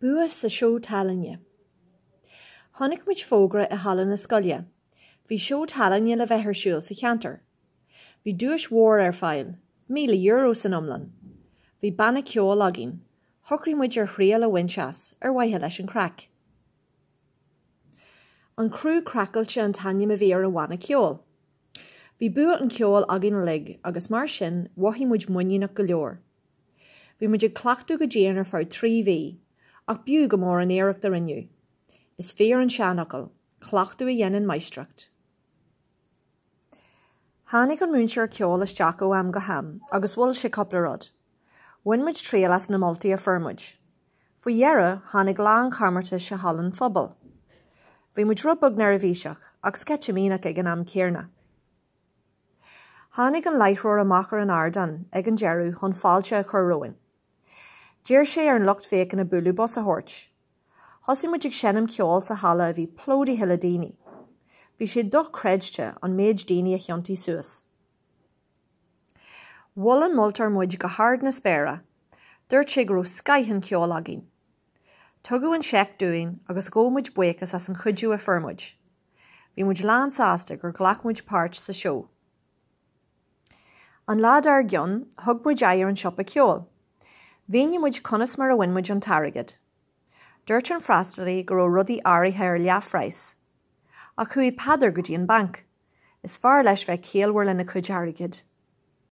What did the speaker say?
Bua sa Seó Tallainne. Chonaic muid fógra i halla na scoile. Bhí seó tallainne le bheith ar siúl sa cheantar. Bhí duais mhór ar fáil, míle euro san iomlán. Bhí banna ceoil againn. Shocraigh muid ar thriail a bhaint as, ar mhaithe leis an chraic. An Criú Craiceáilte an t-ainm a bhí ar an bhanna ceoil. Bhí bua an cheoil againn uilig agus mar sin, mhothaigh muid muiníneach go leor. Bhí muid ag cleachtadh go dian ar feadh trí mhí, ach b'fhiú go mór an iarracht a rinneadh. Is fíor an seanfhocal, cleachtadh a dhéanann máistreacht. Tháinig an múinteoir ceoil isteach ó am go ham agus mhol sé cúpla rud. Bhain muid triail as na moltaí a fuair muid. Faoi dheireadh, tháinig lá an chomórtais i halla an phobail. Bhí muid rud beag neirbhíseach, ach sceitimíneach ag an am céanna. Tháinig an láithreoir amach ar an ardán ag an deireadh chun fáilte a chur romhainn. D'iarr sé ar an lucht féachana bualadh bos a thabhairt. Thosaigh muid ag seinm ceoil sa halla a bhí plódaithe le daoine. Bhí sé dochreidte an méid daoine a thiontaigh suas. Mhol an moltóir muid go hard na spéire. Dúirt sé go raibh scoith an cheoil againn. Tugadh an seic dúinn agus ghabh muid buíochas as an chuidiú a fuair muid. Bhí muid lánsásta gur ghlac muid páirt sa seó. An lá dár gcionn, thug muid aghaidh ar an siopa ceoil. Mhínigh muid conas mar a bhain muid an t-airgead. Dúirt an freastalaí go raibh rudaí áirithe ar leathphraghas. Ach chuaigh Peadar go dtí an banc. Is fearr leis bheith ciallmhar lena cuid airgid.